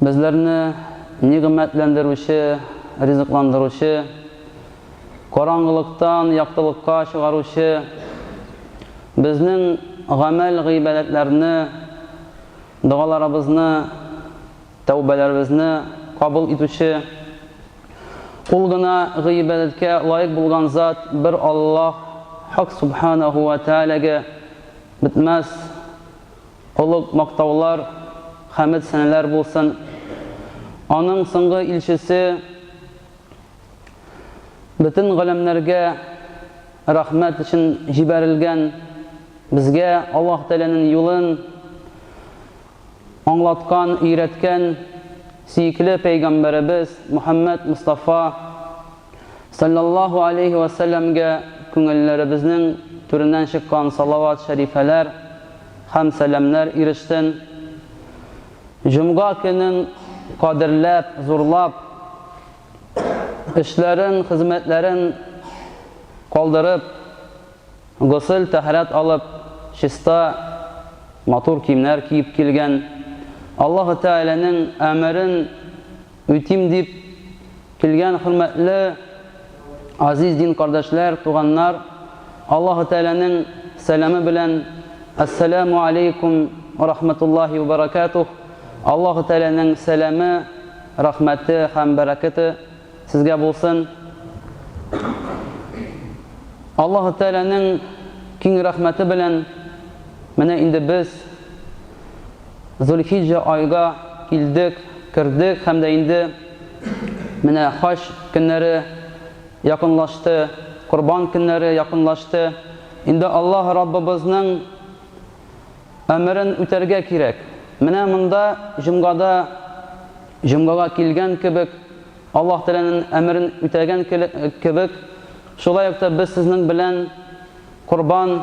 Безләрне нигъмәтләндерүче, ризыкландыручы, караңгылыктан яктылыкка чыгаручы, безнең гамәл-гыйбадәтләрне, догаларыбызны, тәүбәләребезне кабул итүче, ул гына гыйбадәткә лаек булган зат бер Аллаһ Хак Сүбхәнәһү вә Тәгаләгә бетмәс. Олуг мактаулар, хәмед-сәнәләр булсын Аның соңгы илчесе Бөтен галәмнәргә рәхмәт өчен җибәрелгән Безгә Аллаһ Тәгаләнең юлын аңлаткан, өйрәткән сөекле пәйгамбәребез Мөхәммәд Мостафа Салләллаһу алейһи вә сәлләмгә күңелләребезнең түреннән чыккан салават-шәрифәләр һәм сәламнәр ирешсен! Җомга көнен кадерләп, зурлап, эшләрен, хезмәтләрен калдырып, госел-тәһарәт алып, чиста, матур киемнәр киеп килгән, Аллаһы Тәгаләнең әмерен, Үтим дип килгән хөрмәтле, азиз дин кардәшләр, туганнар, Аллаһы Тәгаләнең сәламе белән, Әссәләмү алейкум уә рахмәтуллаһи уә бәрәкәтүһ, Аллаһы Тәгаләнең сәламе, рәхмәте һәм бәрәкәте сезгә булсын. Аллаһы Тәгаләнең киң рәхмәте белән, менә инде без, Зулхиҗҗә айга килдек, кердек һәм дә инде менә хаҗ көннәре якынлашты, корбан көннәре якынлашты. Инде Аллаһ Раббыбызның әмерен үтәргә кирәк. Менә монда җомгада җомгага килгән кебек, Аллаһ Тәгаләнең әмерен үтәгән кебек, шулай ук та без сезнең белән корбан,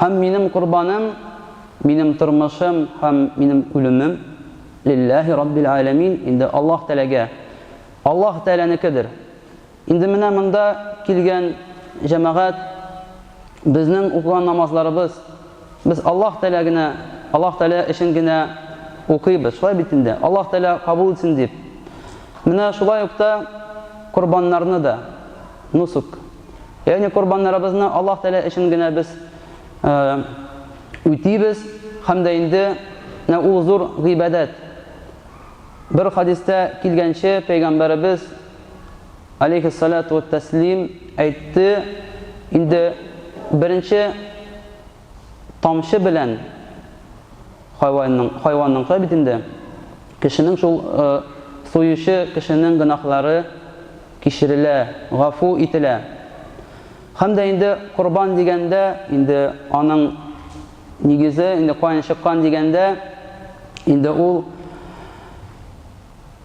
Һәм минем корбаным, минем тормышым һәм минем үлемем, лилләһи раббил галәмин, инде Аллаһ Тәгаләгә, Аллаһ Тәгаләнекедер. Инде менә монда килгән җәмәгать, безнең укыган намазларыбыз, без Аллаһ Тәгалә генә, Аллаһ Тәгалә өчен генә укыйбыз, шулай бит инде, Аллаһ Тәгалә кабул итсен дип. Менә шулай ук та корбаннарны да, нусук. Ягъни корбаннарыбызны Аллаһ Тәгалә өчен генә без үтибез һәм дә инде менә ул зур гыйбадәт. Бер хадистә килгәнчә, пәйгамбәребез алейхиссалату вәттәслим әйтте, инде беренче тамчы белән хайванның, хайванныңкы бит инде, кешенең шул суючы кешенең гөнаһлары кичерелә, гафу ителә. Һәм дә инде корбан дигәндә, инде аның нигезе, инде каен чыккан дигәндә, инде ул,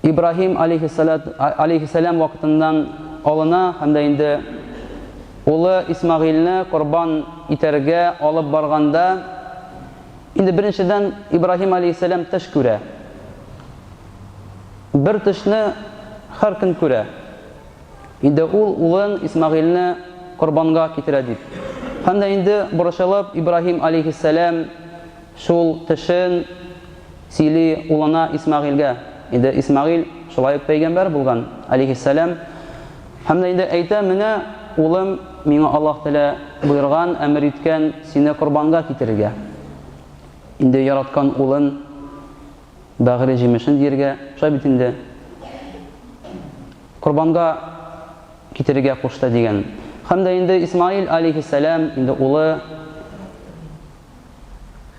Ибраһим алейһиссәләт алейһиссәлам вакытыннан алына һәм дә инде улы Исмагыйльне корбан итәргә алып барганда, инде беренчедән Ибраһим алейһиссәлам төш күрә. Бер төшне һәр көн күрә. Инде ул улын Исмагыйльне корбанга китерә дип. Һәм дә инде борычылып Ибраһим алейһиссәлам Шул тешен сөйли улына Исмәгыйльгә. Инде Исмәгыйль шулай ук пәйгамбәр булган, алейһиссәлам. Һәм дә инде әйтә, Менә, улым, миңа Аллаһ Тәгалә боерган, әмер иткән, сине корбанга китерергә. Инде яраткан улын бәгыре җимешен диергә, шулай бит инде, корбанга китерергә кушты, дигән. Һәм дә инде Исмәгыйль, алейһиссәлам, инде улы.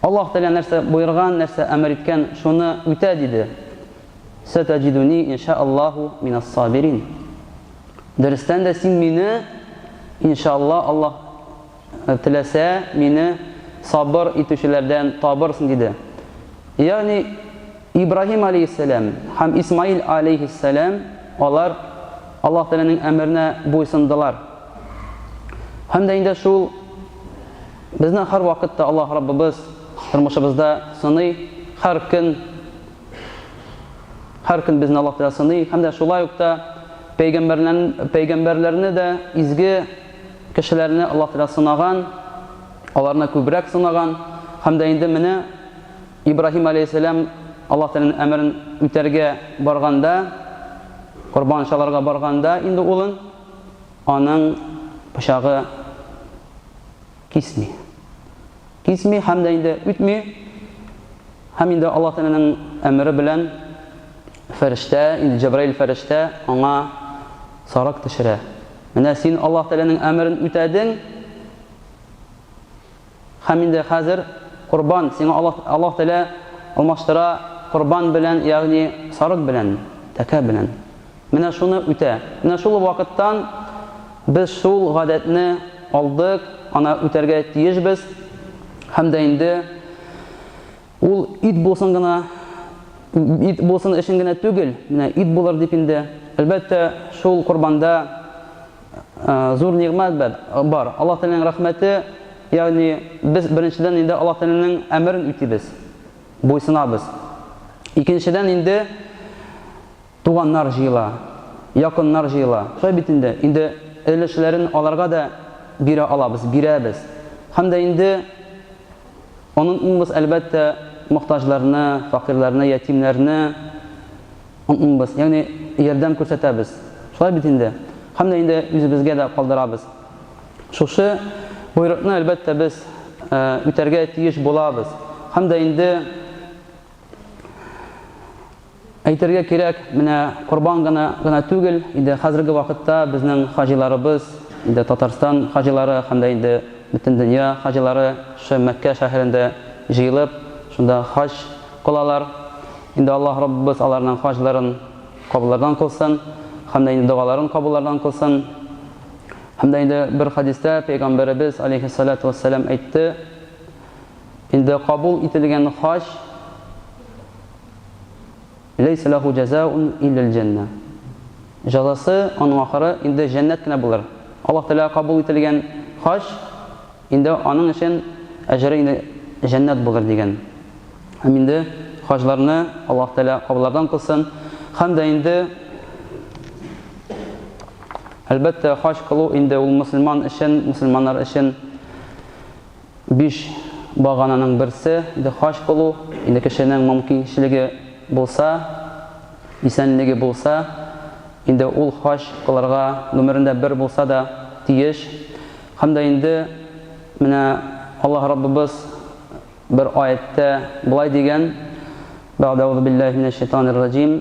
Аллаһ Тәгалә нәрсә боерган, нәрсә әмер иткән, шуны үтә, диде. Сәтәҗидүни иншааллаһу минас-сабирин. Дөрестән дә син мине, иншааллаһ, Аллаһ э, теләсә, мине сабыр итүчеләрдән табырсың, диде. Ягъни Ибраһим алейһиссәлам һәм Исмаил алейһиссәлам алар Аллаһ Тәгаләнең әмеренә буйсындылар. Һәм дә инде шул Безне һәрвакытта Аллаһ Раббыбыз тормышыбызда сыный, һәр көн, һәр көн безне Аллаһ Тәгалә сыный һәм дә шулай ук та пәйгамбәрләрне дә, изге кешеләрне Аллаһ Тәгалә сынаган, аларны күбрәк сынаган һәм дә инде менә Ибраһим галәйһиссәлам Аллаһ Тәгаләнең әмерен үтәргә барганда, корбан чалырга барганда инде улын, аның пычагы кисми. Кисми һәм дә инде үтми. Һәм инде Аллаһ Тәгаләнең әмере белән фәрештә, инде Җәбраил фәрештә аңа сарык төшерә. Менә син Аллаһ Тәгаләнең әмерен үтәдең. Һәм инде хәзер корбан сиңа Аллаһ Аллаһ Тәгалә алмаштыра корбан белән, ягъни сарык белән, тәкә белән. Менә шуны үтә. Менә шул вакыттан без шул гадәтне алдык, аны үтәргә тиешбез. Һәм дә инде ул ит булсын гына, ит булсын өчен генә түгел, менә ит булыр дип инде. Әлбәттә, шул корбанда зур нигъмәт бар. Аллаһ Тәгаләнең рәхмәте, ягъни без беренчедән инде Аллаһ Тәгаләнең әмерен үтибез, буйсынабыз. Икенчедән инде Туганнар җыела, якыннар җыела. Шулай бит инде. Инде өлешләрен аларга да бирә алабыз, бирәбез. Һәм дә инде онытмыйбыз, әлбәттә, мохтаҗларны, факыйрьләрне, ятимнәрне онытмыйбыз. Ягъни ярдәм күрсәтәбез. Шулай бит инде. Һәм дә инде үзебезгә дә калдырабыз. Шушы боерыкны, әлбәттә, без үтәргә тиеш булабыз. Һәм дә инде. Әйтергә кирәк, менә Корбан гына гына түгел, инде хәзерге вакытта безнең хаҗиларыбыз, инде Татарстан хаҗилары һәм дә инде бөтен дөнья хаҗилары шушы Мәккә шәһәрендә җыелып, шунда хаҗ кылалар. Инде Аллаһ Раббыбыз аларның хаҗларын кабуллардан кылсын һәм дә инде догаларын кабуллардан кылсын. Һәм дә инде бер хәдистә Пәйгамбәребез, алейһиссалату вәссәлам, әйтте, Инде кабул ителгән хаҗ, Ләйсә ләһу җәзаун илләл җәннә. Җәзасы аның ахыры инде җәннәт кенә булыр. Аллаһ Тәгаләгә кабул ителгән хаҗ инде аның өчен әҗере инде җәннәт булыр, дигән. Һәм инде хаҗларны Аллаһ Тәгалә кабыллардан кылсын. Һәм дә инде, әлбәттә, хаҗ кылу инде ул мөселман өчен, мөселманнар өчен, Биш багананың берсе, дехач булу, инде кешенең момкинчелеге булса, исәнлеге булса, инде ул хаҗ кылырга гомерендә бер булса да тиеш. Һәм дә инде менә Аллаһ Раббыбыз бер аятьтә болай дигән, Бәгъдә әузубиллаһи минәшшәйтанир раҗим,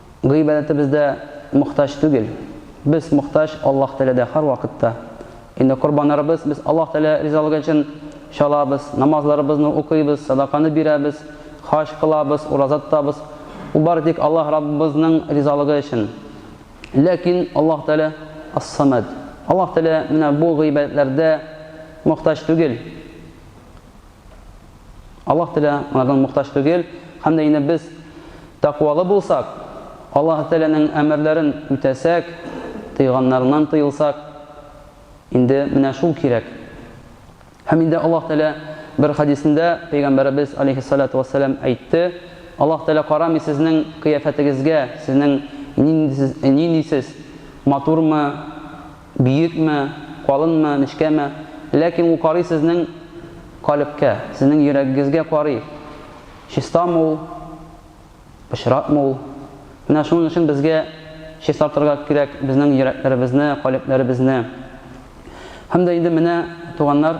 Гыйбадәтебездә мохтаҗ түгел. Без мохтаҗ Аллаһ Тәгаләдә һәрвакытта. Инде корбаннарыбыз без Аллаһ Тәгалә ризалыгы өчен чалабыз, намазларыбызны укыйбыз, садаканы бирәбез, хаҗ кылабыз, ураза тотабыз. Бу бары тик Аллаһ Раббыбызның ризалыгы өчен. Ләкин Аллаһ Тәгалә Ас-Самад. Аллаһ Тәгалә менә бу гыйбадәтләрдә мохтаҗ түгел. Аллаһ Тәгалә алардан мохтаҗ түгел, һәм дә инде без тәкъвалы булсак, Аллаһ Тәгаләнең әмерләрен үтәсәк, тыйганнарыннан тыелсак, инде менә шул кирәк. Һәм инде Аллаһ Тәгалә бер хәдисендә пәйгамбәребез алейһиссалату вассалам әйтте, Аллаһ Тәгалә карамый сезнең кыяфәтегезгә, сезнең нинди сез, нинди сез, матурмы, Биекме, калынмы, нечкәме, ләкин ул карый сезнең калебкә, сезнең йөрәгегезгә карый. Чистамы ул, пычратмы ул? Менә шуның өчен безгә чистартырга кирәк безнең йөрәкләребезне, калебләребезне. Һәм дә инде менә, туганнар,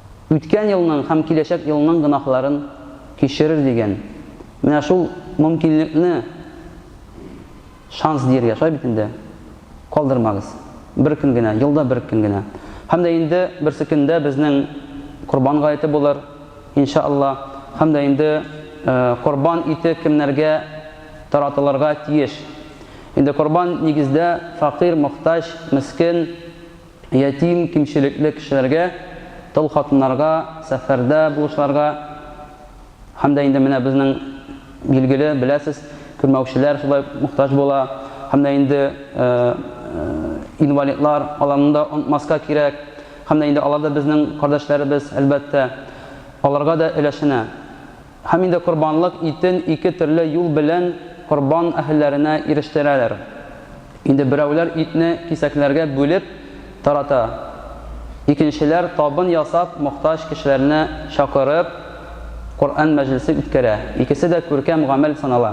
Үткән елның һәм киләчәк елның гөнаһларын кичерер дигән, менә шул мөмкинлекне, шанс диергә, шулай бит инде, калдырмагыз. Бер көн генә, елда бер көн генә. Һәм дә инде берсе көндә безнең Корбан гаете булыр, инша Алла. Һәм дә инде Корбан ите кемнәргә таратылырга тиеш? Инде Корбан, нигездә, факыйрь, мохтаҗ, мескен, Ятим, кимчелекле кешеләргә, тол хатыннарга, сәфәрдә булучыларга һәм дә инде менә безнең билгеле, беләсез, күрмәүчеләр шулай ук мохтаҗ була. Һәм дә инде инвалидлар, аларны да онытмаска кирәк. Һәм дә инде алар да безнең кардәшләребез, әлбәттә. Аларга да өләшенә. Һәм инде корбанлык итен ике төрле юл белән корбан әһелләренә ирештерәләр. Инде берәүләр итне кисәкләргә бүлеп тарата, икенчеләр табын ясап мохтаҗ кешеләрне чакырып Коръән мәҗлесе үткәрә. Икесе дә күркәм гамәл санала.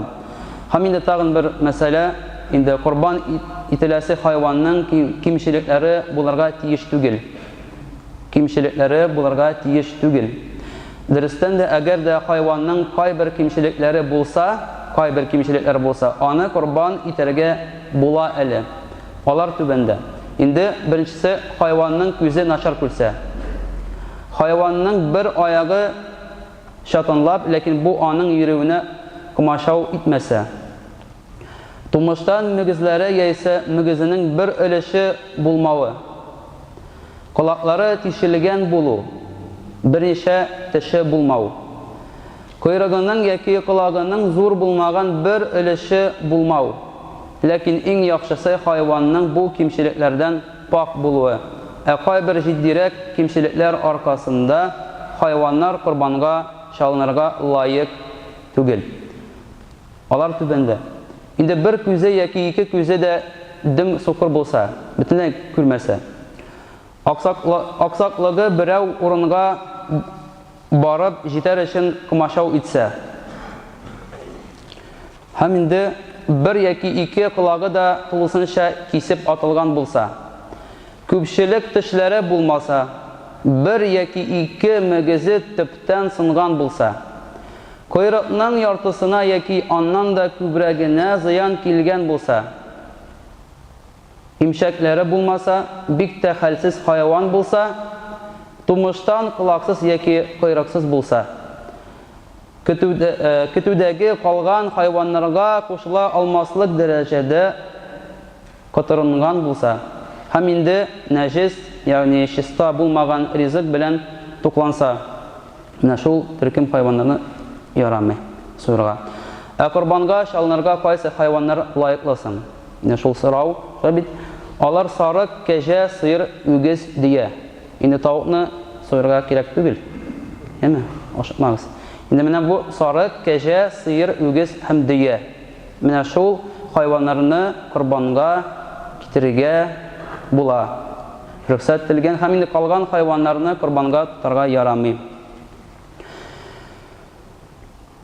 Һәм инде тагын бер мәсьәлә, инде корбан ителәсе хайванның кимчелекләре булырга тиеш түгел. Кимчелекләре булырга тиеш түгел. Дөрестән дә, әгәр дә хайванның кайбер кимчелекләре булса, кайбер кимчелекләре булса, аны корбан итәргә була әле. Алар түбәндә. Инде беренчесе, хайванның күзе начар күрсә. Хайванның бер аягы чатанлап, ләкин бу аның йөрүенә комачау итмәсә. Тумыштан мөгезләре яисә мөгезенең бер өлеше булмавы. Колаклары тишелгән булу, берничә теше булмау. Койрыгының яки колагының зур булмаган бер өлеше булмау. Ләкин иң яхшысы хайванның бу кимчелекләрдән пакь булуы. Ә кайбер җитдирәк кимчелекләр аркасында хайваннар корбанга чалынырга лаек түгел. Алар түбәндә. Инде бер күзе яки ике күзе дә дөм-сукыр булса, бөтенләй күрмәсә. Аксаклыгы берәү урынга барып җитәр өчен комачау итсә. Һәм инде бер яки ике колагы да тулысынча кисеп атылган булса. Күпчелек тешләре булмаса, бер яки ике мөгезе төптән сынган булса. Койрыкның яртысына яки аннан да күбрәгенә зыян килгән булса, имчәкләре булмаса, бик тә хәлсез хайван булса, тумыштан колаксыз яки койрыксыз булса, көтүдәге калган хайваннарга кушыла алмаслык дәрәҗәдә, котырынган булса, һәм инде нәҗес, ягъни чиста булмаган ризык белән тукланса, менә шул төркем хайваннарны ярамый суырырга. Ә корбанга чалынырга кайсы хайваннар лаеклы соң? Менә шул сорау тора бит. Алар сарык, кәҗә, сыер, үгез, дөя. Инде тавыкны суырырга кирәк түгел. Әйеме? Ашыкмагыз. Инде менә бу сарык, кәҗә, сыер, үгез һәм дөя. Менә шул хайваннарны корбанга китерергә була. Рөхсәт ителгән һәм инде калган хайваннарны корбанга тотарга ярамый.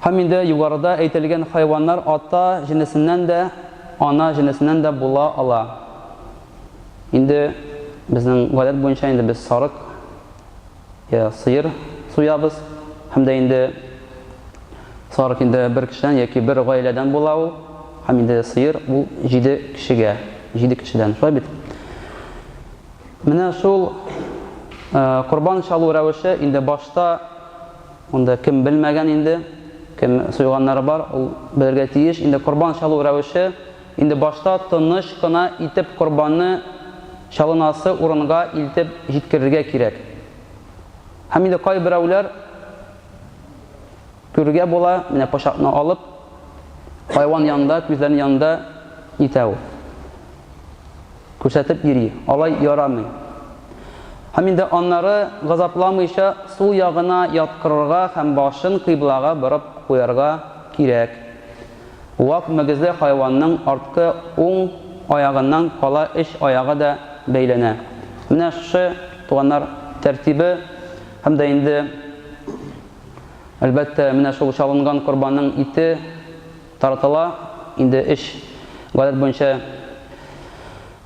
Һәм инде югарыда әйтелгән хайваннар ата җенесеннән дә, ана җенесеннән дә була ала. Инде безнең гадәт буенча инде без сарык, йә сыер суябыз һәм дә инде сарык инде бер кешедән яки бер гаиләдән була ул, һәм инде сыер ул җиде кешегә, җиде кешедән, шулай бит? Менә шул корбан чалу рәвеше инде башта монда кем белмәгән инде, кем суйганнары бар, ул белергә тиеш, инде корбан чалу рәвеше, Инде башта тыныч кына итеп корбанны чалынасы урынга илтеп җиткерергә кирәк. Һәм инде кайберәүләр, күрергә була, менә пычакны алып, хайван янында, күзләренең янында итә ул. Күрсәтеп йөри. Алай ярамый. Һәм инде аннары газапламыйча сул ягына яткырырга һәм башын кыйблага борып куярга кирәк. Вак мөгезле хайванның арткы уң аягыннан кала өч аягы да бәйләнә. Менә шушы, туганнар, тәртибе һәм дә инде, әлбәттә, менә шул чалынган корбанның ите таратыла инде өч, гадәт буенча,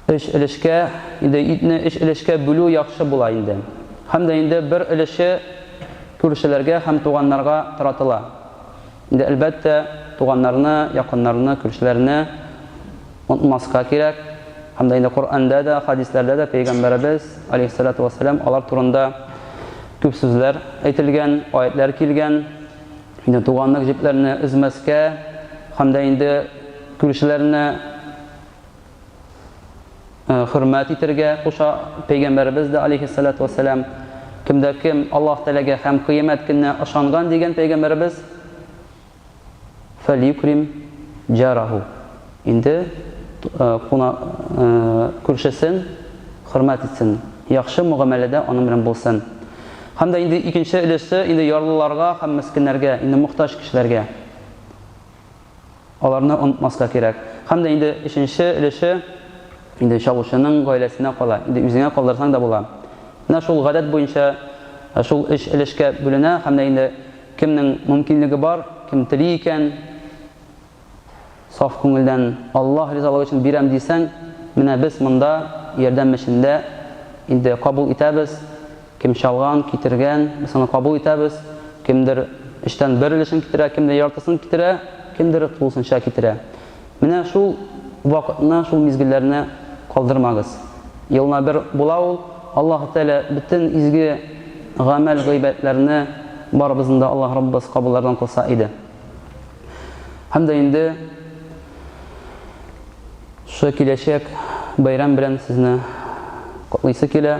өч өлешкә. Инде итне өч өлешкә бүлү яхшы була инде. Һәм дә инде бер өлеше күршеләргә һәм туганнарга таратыла. Инде, әлбәттә, туганнарны, якыннарны, күршеләрне онытмаска кирәк. Һәм дә инде Коръәндә дә, хәдисләрдә дә Пәйгамбәребез, алейһиссалату вәссәлам, алар турында күп сүзләр әйтелгән, аятьләр килгән. Инде туганлык җепләрне өзмәскә һәм дә инде күршеләрне Э, хөрмәт итергә куша пәйгамбәребез дә алейхиссалату вассалам кемдә кем аллаһ тәләгә һәм кыямәт көненә ышанган дигән пәйгамбәребез фәликрим джараху инде э, куна э, күршесен хөрмәт итсен яхшы мөгамәләдә аның белән булсын һәм дә инде икенче өлеше инде ярлыларга һәм мескеннәргә инде мохтаҗ кешеләргә Аларны онытмаска кирәк. Һәм дә инде өченче өлеше инде чалучының гаиләсенә кала. Инде үзеңә калдырсаң да була. Менә шул гадәт буенча шул өч өлешкә бүленә һәм дә инде кемнең мөмкинлеге бар, кем тели икән, саф күңелдән Аллаһ ризалыгы өчен бирәм дисәң, менә без монда ярдәм эшендә инде кабул итәбез. Кем чалган, китергән, без аны кабул итәбез. Кемдер өчтән бер өлешен китерә, кемдер яртысын китерә, кемдер тулысынча китерә. Менә шул вакытны, шул мизгелләрне калдырмагыз. Елына бер була ул. Аллаһы Тәгалә бөтен изге гамәл-гыйбадәтләрне барыбызны да Аллаһ Раббыбыз кабуллардан кылса иде. Һәм дә инде шушы киләчәк бәйрәм белән сезне котлыйсы килә.